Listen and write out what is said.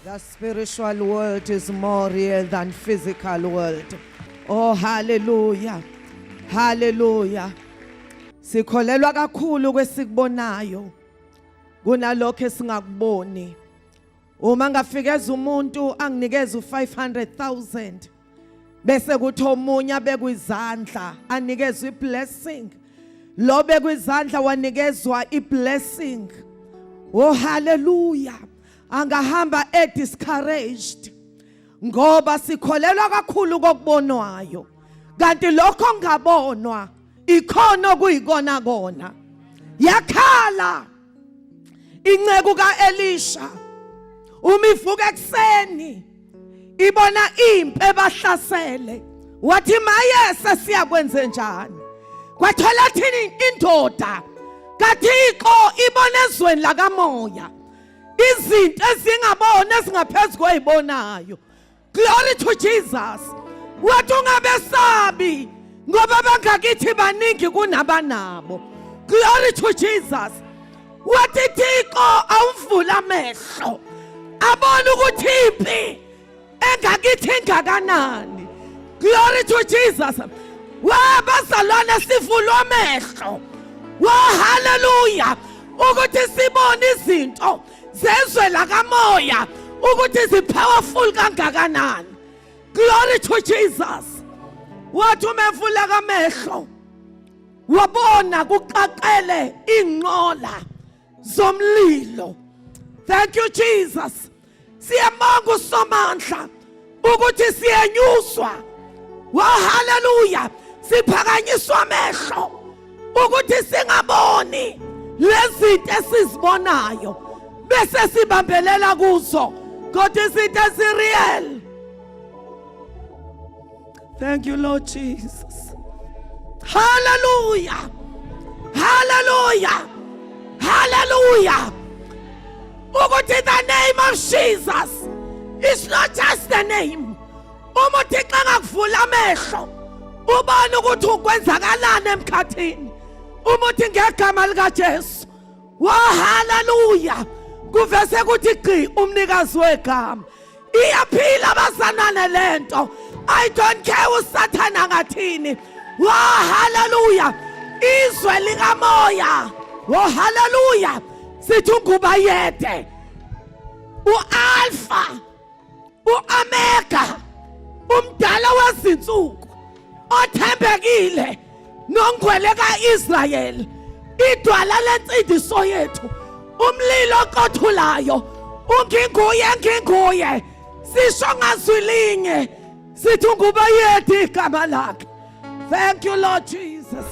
The spiritual world is more real than physical world. Oh hallelujah. Hallelujah. Sikholelwa kakhulu kwesikubonayo kunalokho esingakuboni. Uma ngafikeza umuntu anginikeza u500000 bese kuthi omunye abekwizandla anikezwe iblessing lo bekwizandla wanikezwa iblessing oh haleluya angahamba e discouraged ngoba sikholelwa kakhulu kokubonwayo kanti lokho ngabonwa ikhona okuyikona kona yakhala inceku kaElisha uma ivuka ekuseni ibona impi ebahlasele wathi maye sesiyakwenze njani kwathola thini indoda kathixo ibona ezweni lakamoya izinto ezingabona ezingaphezulu koyibonayo Glory to Jesus. Wathi ungabesabi ngoba bangakithi baningi kunabanabo. Glory to Jesus. Wathi Thixo awumvula amehlo. Abona ukuthi impi engakithi engakanani. Glory to Jesus. Wabazalwane sivulwa amehlo. Wa hallelujah. Ukuthi sibone izinto zezwe lakamoya ukuthi zipowerful kangakanani glory to jesus wathi uma evuleka amehlo wabona kuqaqele inqola zomlilo thank you jesus siyabonga usomandla ukuthi siyenyuswa wa haleluya siphakanyiswa amehlo ukuthi singaboni lezinto esizibonayo bese sibambelela kuzo kodwa izinto ezireal Thank you Lord Jesus. Hallelujah. Hallelujah. Hallelujah. Ukuthi the name of Jesus is not just the name. Uma uThixo engakuvula amehlo ubone ukuthi ukwenzakalani emkhathini. Uma uthi ngegama lika Jesu Wa haleluya. Kuvese ukuthi gqi umnikazi wegama. Iyaphila bazanane lento. I don't care usathana ngathini. Wa haleluya. Izwe likamoya. Wa haleluya. Sithi unguba yede. UAlpha uOmega umdala wezinsuku othembekile nongwele kaIsrael idwala lensindiso yethu umlilo oqothulayo unginguye nginguye sisho ngazwi linye sithi ungube yethu igama lakhe thank you lord jesus